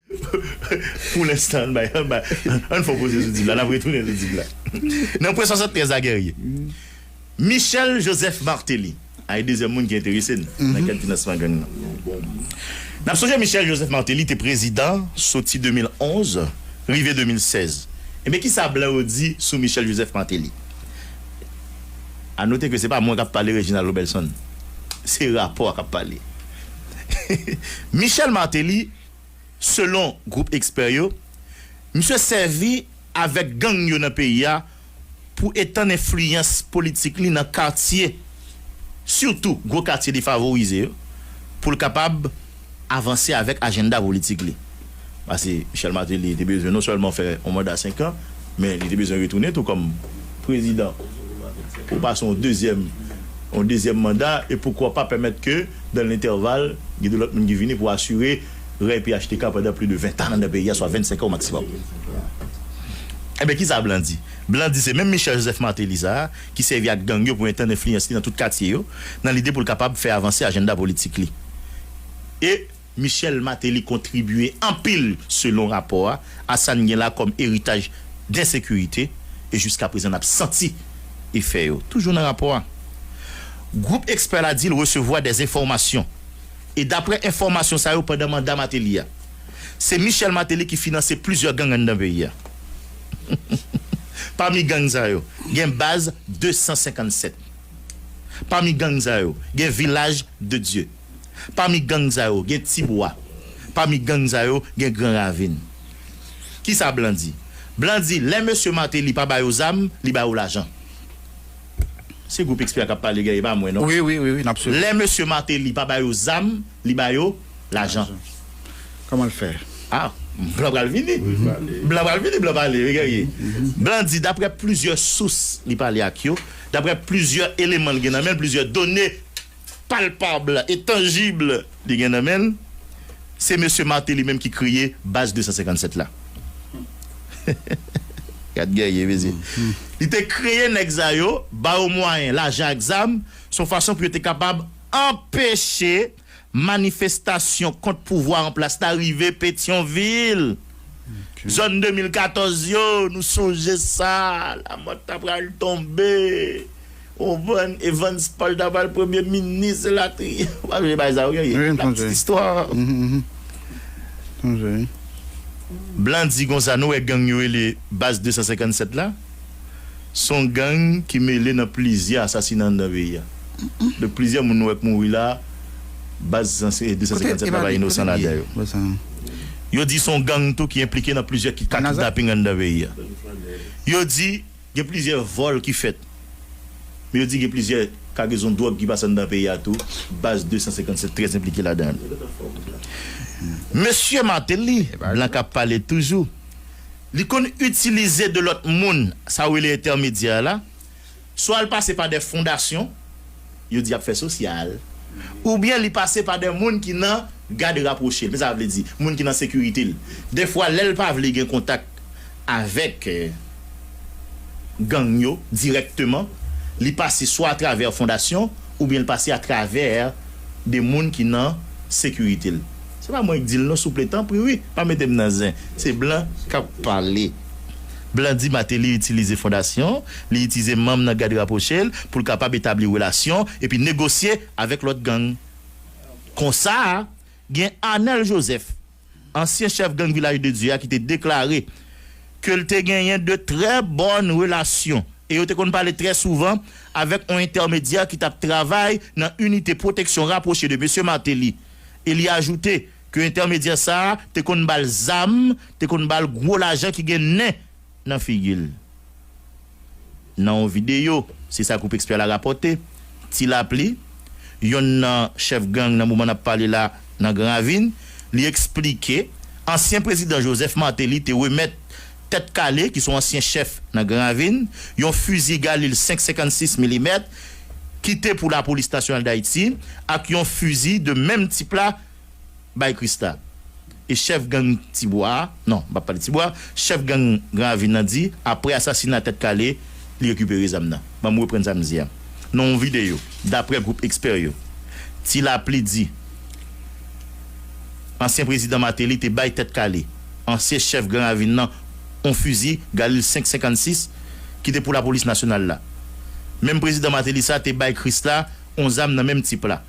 Pou lenstan ann bay anba ann fon poze sou dib la nap retounen sou dib la nan pwen 73 la Guerrier Michel Joseph Martelly ay dezyèm moun ki enterese n nan kad finansman gang nan nap sonje Michel Joseph Martelly te prezidan soti 2011 rive 2016 ebyen kisa blan yo di sou Michel Joseph Martelly a note ke se pa mwen kap pale Reginald Robelson se rapò a kap pale Michel Martelly. Selon gwoup ekspè yo, misye sèvi avèk gang yo nan peyi a pou etann enfliyans politik li nan katye, sitou gwo katye defavorize yo, pou l kapab avanse avèk ajennda politik li. Pase Michel Martelly te bezwen non sèlman fè yon manda senkan, Men li te bezwen retounen tou kòm prezidan pou pase yon dezyèm yon dezyèm manda e poukwa pa pèmèt ke dan lentèval gen de lòt moun ki vini pou asire rèy phtk pandan pli de ventan anndan peyi a swa vennsenkan o maksimòm. Enben kisa blan di? Blan di se menm Michèl Jozèf Mateli sa a ki sèvi ak gang yo pou etann enfliyans li nan tout katye yo nan lide pou l kapab fè avanse ajennda politik li e Michel Martelly kontribye anpil selon rapò a, a sa n gen la kòm eritaj densekirite e jiska prezan n ap santi efè yo. Toujou nan rapò a, gwoup ekspè la di l resevwa dè enfòmasyon e daprè enfòmasyon sa yo pandan manda Martelly a, se Michel Martelly ki finanse plizyè gang anndan peyi a. Pami gang sa yo, gen Baz 257. Pami gang sa yo, gen Vilaj de Dye. Pami gang sa yo gen Ti Bwa. Pami gang sa yo gen Gran Ravin. Ki sa blan di? Blan di lè mesye Martelly pa ba yo zam, li ba yo lajan. Se gwoup Expert k ap pale Guy, e pa mwen non. Wi, wi, wi, wi, n ap swiv ou. Lè mesye Martelly pa ba yo zam, li ba yo lajan. Lajan. Kòman l fè? A! Blan pral vini. Wi, pale. Blan pral vini, blan pale wi Guerrier. Blan di daprè plizyè sous li pale ak yo, daprè plizyè eleman l gen nan men l, plizyè done. palpab e tanjib li gen nan men l, se mesye Martelly menm ki kreye Baz 257 la. Gad gèye mesye! Li te kreye nèg sa yo, ba yo mwayen, lajan ak zam, s on fason pou yo te kapab anpeche manifestasyon kont pouvwa an plas la rive Petyonvil. Zòn 2014 yo, nou sonje sa, Lamòt ta pral tonbe. Ou pran Evans Paul ta pral premye minis elatriye. Ou pa sonje bagay sa yo gen ye? La petite histoire. Blan di konsa nou wè gang yo rele Baz 257 la, s on gang ki mele nan plizyè asasina anndan peyi a. Donk plizyè moun nou wè k mouri la, Baz 257 la pa inosan ladan yo. Yo di s on gang tou ki enplike nan plizyè kidnaping anndan peyi a. Yo di. Gen plizyè vòl ki fèt. Men yo di gen plizyè kagezon dwòg ki pase anndan peyi a tou, baz 257 trè enplike ladan. Mesye Martelly, blan k ap pale toujou, li konn itilize de lòt moun, sa ou rele entèmedyè la, swa l pase pa dè fondasyon, yo di y ap fè sosyal, oubyen li pase pa de moun ki nan gad rapwoche l, sa vle di, moun ki nan sekirite l. Dèfwa, lè l pa vle gen kontak avèk gang yo dirèkteman, li pase swa atravè fondasyon oubyen l pase atravè de moun ki nan sekirite l. Se pa mwen k di l non souple, tanpri wi, pa mete m nan zen. Se blan k ap pale. Blan di Mateli itilize fondasyon, li itize manm nan gad raproche l pou l kapab etabli relasyon epi negosye avèk lòt gang. Konsa, gen Anèl Jozèf, ansyen chèf gang Vilaj de Dye a ki te deklare ke l te genyen de trè bòn relasyon e yo te konn pale trè souvan avèk on entèmedyè ki t ap travay nan inite pwoteksyon raproche de Mesye Martelly e li ajoute Ke entèmedyè sa a te konn ba l zam, te konn ba l gwo lajan ki gen nen nan figi l. Nan yon videyo, se sa gwoup ekspè la rapòte, Ti Lapli, yonn nan chèf gang nan moman n ap pale la nan Gran Ravin, li eksplike ansyen prezidan Joseph Martelly te remèt Tèt Kale, ki se yon ansyen chèf nan Gran Ravin, yon fizi Galil 5 56 milimèt ki te pou Lapolis Nasyonal Dayiti ak yon fizi de menm tip la. bay Christa e chèf gang Ti Bwa a, non, m pa pale Ti Bwa, chèf gang Gran Ravin nan di aprè asasina Tèt Kale li rekipere zam nan. Ban m reprann sa m di a. Nan yon videyo, daprè gwoup ekspè yo, Ti Lapli di ansyen prezidan Martelly te bay Tèt Kale, ansyen chèf Gran Ravin nan, yon fizi Galil 5 56 ki te pou lapolis nasyonal la. Menm prezidan Martelly sa te bay Christa yon zam nan menm tip la.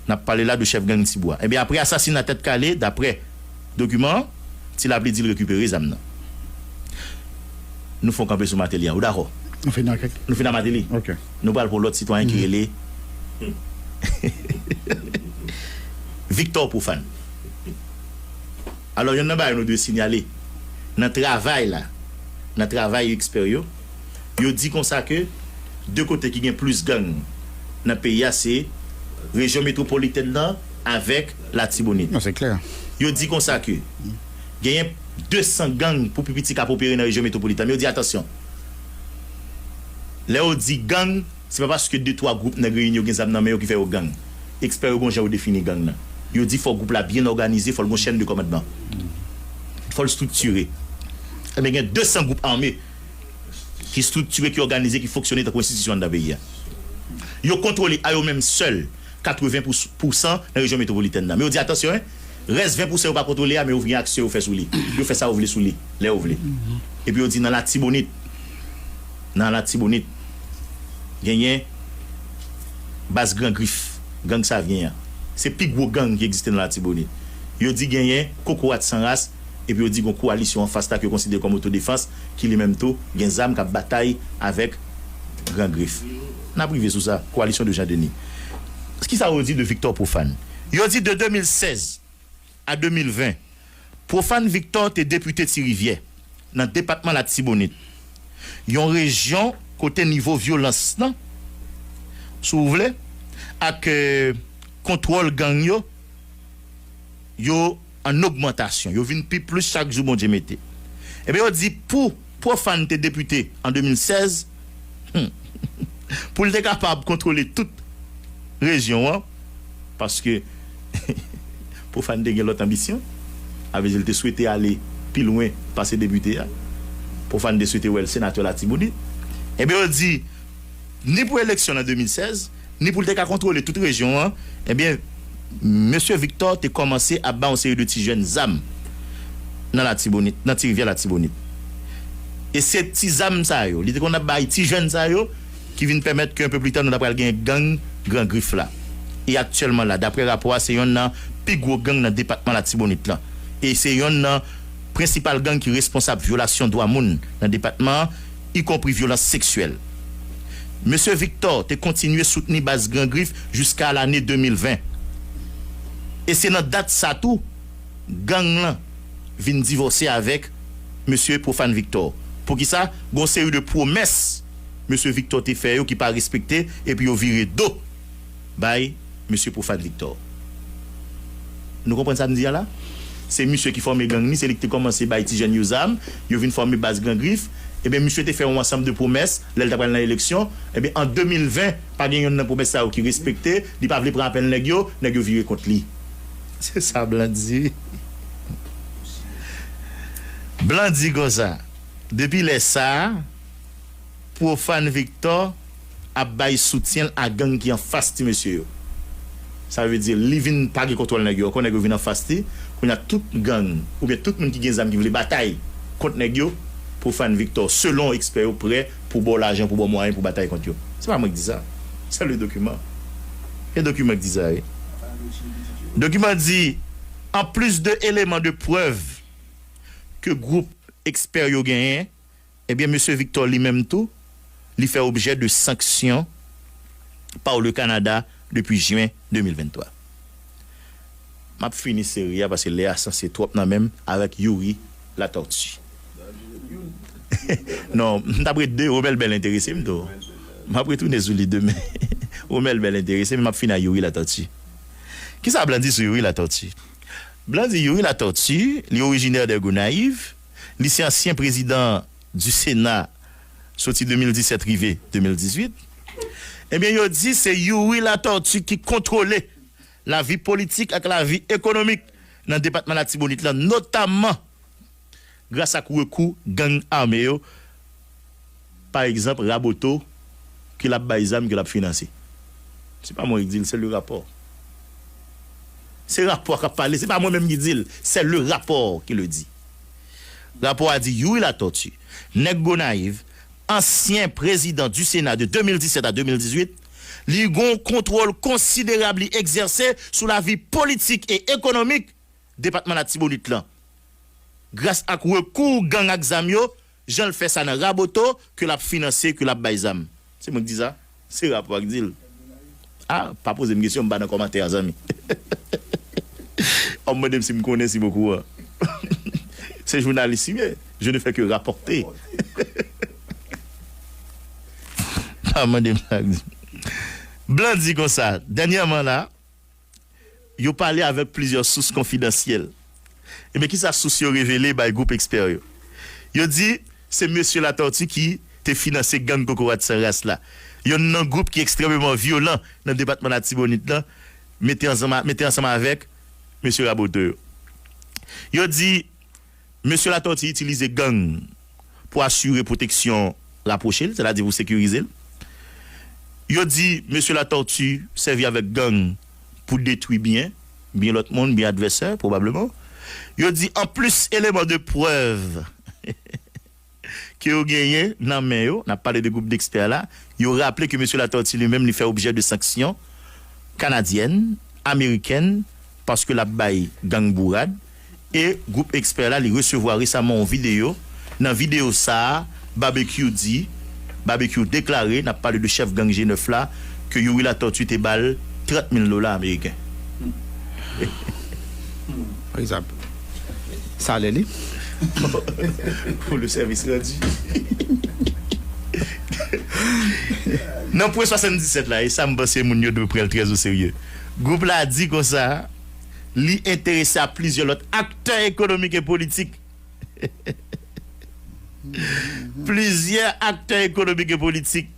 N ap pale la de chèf gang Ti Bwa. Ebyen apre asasina Tèt Kale, daprè dokiman an, Ti Lapli di l rekipere zam nan. Nou fè yon kanpe sou Mateli an. Ou dakò? Nou fini ak Nou fini ak Mateli. Ok. Nou pral pou lòt sitwayen ki rele Viktò Pwofàn. Alò yonn nan bagay nou dwe sinyale, nan travay la, nan travay ekspè yo, Yo di konsa ke 2 kote ki gen plis gang nan peyi a se rejyon metwopolitèn nan avèk Latibonit. Non se klè. Yo di konsa ke genyen 200 gang pou pi piti kap opere nan rejyon metwopolitèn men yo di atansyon lè yo di gang se pa paske de twa gwoup nèg reyini yo gen zam nan men yo ki fè yo gang. Ekspè yo gon jan yo defini gang nan. Yo di fò gwoup la byen òganize, fò l gon chèn de kòmandman, fò l striktire. Ebyen gen 200 gwoup ame. ki striktire, ki òganize, ki fonksyone tankou enstitisyon anndan peyi a. Yo kontwole a yo menm sèl 80 pou pousan nan rejyon metwopolitèn nan. Men yo di atansyon en, rès 20 pousan yo pa kontwole a men yo vin gen aksyon yo fè sou li. Yo fè sa yo vle sou li, lè yo vle. Epi yo di nan Latibonit, nan Latibonit genyen baz Gran Grif, gang Savyen an. Se pi gwo gang ki egziste nan Latibonit. Yo di genyen Kokorat San Ras. epi yo di gon kowalisyon anfas la ke yo konsidere kòm otodefans ki li menm tou gen zam kap batay avèk Gran Grif. Nap rive sou sa. Kowalisyon de Jean Denis. Kisa yo di de Victor Prophane? Yo di de 2016 a 2020, Prophane Victor te depite Ti Rivyè, nan depatman Latibonit, yon rejyon kote nivo vyolans lan, si w vle, ak kontwòl gang yo, yo. an ogmantasyon, yo vin pi plis chak jou Bondye mete. Enben yo di pou Prophane te depite an 2016, hum, pou l te kapab kontwole tout rejyon an, paske Prophane te gen lòt anbisyon, sa vle di l te swete ale pi lwen pase depite a, Prophane te swete wè l senatè Latibonit, enben yo di ni pou eleksyon l an 2016, ni pou l te ka kontwole tout rejyon an, ebyen, Mesye Victor te kòmanse ap bay yon seri de ti jèn zam nan Latibonit, nan Tirivyè Latibonit. E se ti zam sa yo, li te konn ap bay ti jèn sa yo, ki vin pèmèt ke enpe pli ta nou ta pral gen gang Gran Grif la. E aktyèlman la, dapre rapò a, se yonn nan pi gwo gang nan depatman Latibonit lan. E se yonn nan prensipal gang ki responsab vyolasyon dwa moun nan depatman an. ikonpri vyolans seksyèl. Mesye Victor te kontinye soutni baz Gran Grif jiska lane 2020, e se nan dat sa tou gang lan vin divòse avèk Mesye Prophane Victor. Poukisa? Gon seri de pwomès Mesye Victor te fè yo ki pa respekte epi yo vire do. bay Mesye Profane Victor. Nou konprann sa m di a la? Se misye ki fòme gang ni, se li ki te kòmanse bay ti jèn yo zam, yo vin fòme baz Gran Grif. Enben, misye te fè yon ansanm de pwomès lè l ta pral nan eleksyon. Enben, an 2020, pa gen yonn nan pwomès sa yo ki respekte. Li pa vle pran apèl nèg yo, nèg yo vire kont li. Se sa blan di wi. Blan di konsa. Depi lè sa a. Profane Victor ap bay soutyen l a gang ki anfas ti mesye yo. Sa vle di li vin pa gen kontwòl nèg yo ankò, nèg yo vin anfas li, kounye a tout gang oubyen tout moun ki gen zam ki vle batay kont nèg yo, Profane Victor, selon ekspè yo prè pou ba w lajan, pou ba w mwayen pou batay kont yo. Se pa mwen k di sa, se le dokiman. Se dokiman k di sa wi. Dokiman di, An plis de eleman de prèv ke gwoup ekspè yo genyen, Ebyen Mesye Victor li menm tou, li fè objè de sanksyon paw le Kanada depi Jyen 2023. Map fini seri a paske lè a sanse twòp nan menm avèk Youri Latortue. Non, m tap ret 2, Romel Bell enterese m tou. Map retounen sou li demen. Romel Bell enterese m, map fini ak Youri Latortue. Kisa blan di sou Youri Latortue? Blan di Youri Latortue, li orijinè de Gonayiv. Li se ansyen prezidan du Sena soti 2017 rive 2018. Ebyen yo di se Youri Latortue ki kontwole lavi politik ak lavi ekonomik nan depatman Latibonit lan notamman gras ak rekou gang ame yo pa egzanp Raboto ke lap bay zam ke lap finanse. Se pa mwen ki dil se le rapò. Se rapò kap pale se pa mwen menm ki dil se le rapò ki le di. Rapò a di Youri Latortue nèg Gonayiv ansyen prezidan du Sena de 2017 a 2018 li gon kontwòl konsiderab li egzèse sou lavi politik e ekonomik depatman Latibonit lan gras ak rekou gang ak zam yo Jan l fè sa nan Raboto ke l ap finanse, ke l ap bay zam. Se mwen k di sa? Se Rapò a k di l. A, pa poze m kesyon, m pa nan kòmantè a zanmi. An mande m si m konnen, si m okouran. Se jounalis m ye, je ne fais que rapporter. Pa mande m sa k di. Blan di konsa, dènyèman la. Yo pale avèk plizyè sous konfidansyèl. Ebyen kisa sous yo revele bay gwoup ekspè yo? Yo di se Mesye Latortue ki te finanse gang Kokorat San Ras la, yonn nan gwoup ki ekstrèmeman vyolan nan depatman Latibonit lan, mete ansanm avèk Mesye Raboto yo. Yo di. Mesye Latòti itilize gang pou asire pwoteksyon rapwoche l, sètadi pou sekirize l. Yo di Mesye Latòti sèvi avèk gang pou detwi byen, byen lòt moun, byen advèsè, pwobableman. Yo di anplis eleman de prèv. ke yo genyen nan men yo, nap pale de gwoup dekspè la, yo raple ke Mesye Latortue li menm li fè objè de sanksyon kanadyèn, amerikèn, paske lap bay gang bourad, e gwoup ekspè la li resevwa resaman yon videyo, nan videyo sa a Babekyou di, Babekyou deklare, nap pale de chèf gang G9 la, ke Youri Latortue te bal 30 mil dola ameriken. Salè li Pou le sèvis randu Nan pwen 77 la e sa m panse moun yo dwe pran l trèzoserye. Gwoup la di konsa li enterese a plizyè lòt aktè ekonomik e politik Plizyè aktè ekonomik e politik.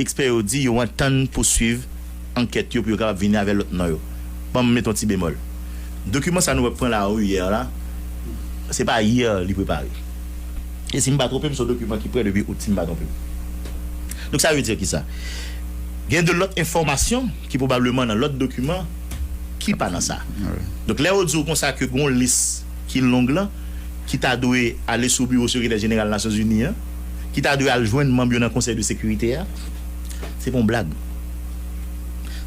Ekspè yo di yo antann pouswiv ankèt yo pou yo kapab vini avè lòt non yo. Ban m met yon ti bemòl. Dokiman sa nou wè k pran lariyè la, se pa yè li prepare. E si m pa twonpe m, se yon dokiman ki prè depi out, si m pa twonpe m. Donk sa vle di ki sa? Gen de lòt enfòmasyon ki pwobableman nan lòt dokiman ki pa nan sa. Donk lè yo di w kon sa ke gen yon lis ki long lan ki ta dwe ale sou biwo Sekretè Jeneral Nasyonzini an, ki ta dwe al jwenn manm yo nan konsèy de sekirite a, se pa yon blag.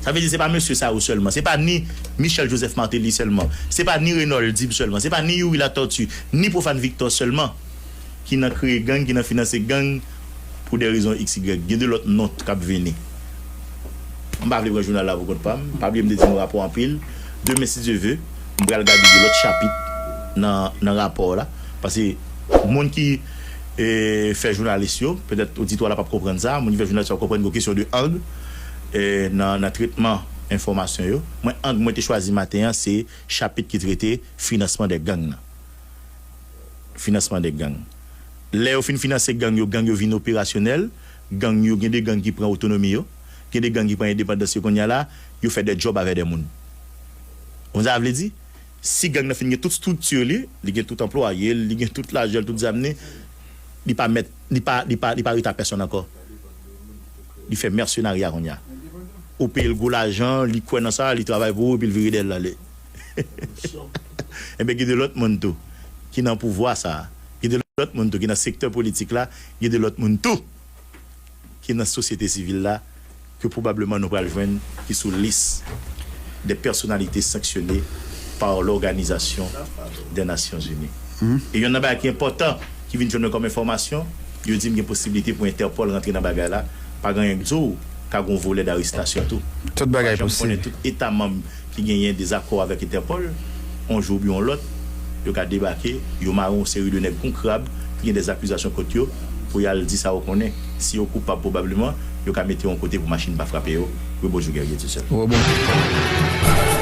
Sa vle di se pa mesye sa yo sèlman, se pa ni Michel Joseph Martelly sèlman, se pa ni Renold Dib sèlman, se pa ni Youri Latortue, ni Prophane Victor sèlman ki nan kreye gang, ki nan finanse gang pou dè rezon xy. Gen de lòt non t k ap vini. M pa vle pran jounal la pou kont pa m. Pa bliye m te di nou rapò anpil. Demen si Dye ve, m pral gade de lòt chapit nan rapò la. Pase moun ki. e fè jounalis yo, petèt oditwa la pap konprann sa, moun ki fè jounalis yo ap konprann gen yon kesyon de ang nan tretman enfòmasyon yo. Mwen ang mwen te chwazi maten an se chapit ki trete finansman de gang nan. Finansman de gang. Lè yo fin finanse gang yo, gang yo vin operasyonèl, gang yo gen de gang ki pran otonomi yo, gen de gang ki pran endepandans yo kounya la, yo fè de djòb avè de moun. Ou konn sa sa vle di? Si gang nan fin gen tout structure li, li gen tout anplwaye l, li gen tout lajan l, tout zam li, li pa mèt, li pa, li pa, li pa rete a pèsonn ankò. Li fè mercenariat kounya. Ou peye l gwo lajan, li kwè nan sa, li travay pou ou epi l vire dèyè l ale. Enben gen de lòt moun tou ki nan pouvwa sa a, gen de lòt moun tou ki nan sektè politik la, gen de lòt moun tou. ki nan sosyete sivil la ke pwobableman nou pral jwenn ki sou lis des personnalités sanctionnées par l'Organisation des Nations Unies. E yonn nan bagay ki enpòtan ki vin jwenn mwen kòm enfòmasyon, yo di m gen posiblite pou Interpol rantre nan bagay la, pa gen anyen k di w ka gen yon volè d'arestasyon tou. Tout bagay posib. Mwen pa janm konnen tout Eta manm. ki genyen dezakò avèk Interpol, on jou oubyen on lòt, yo ka debake, yo mare on seri de nèg kon krab ki gen dè akizasyon kont yo, pou y al di sa yo konnen. Si yo koupab pwobableman, yo ka mete on kote pou machin pa frape yo. Wi bonjou Guerrier Dussel. Wi bonjou.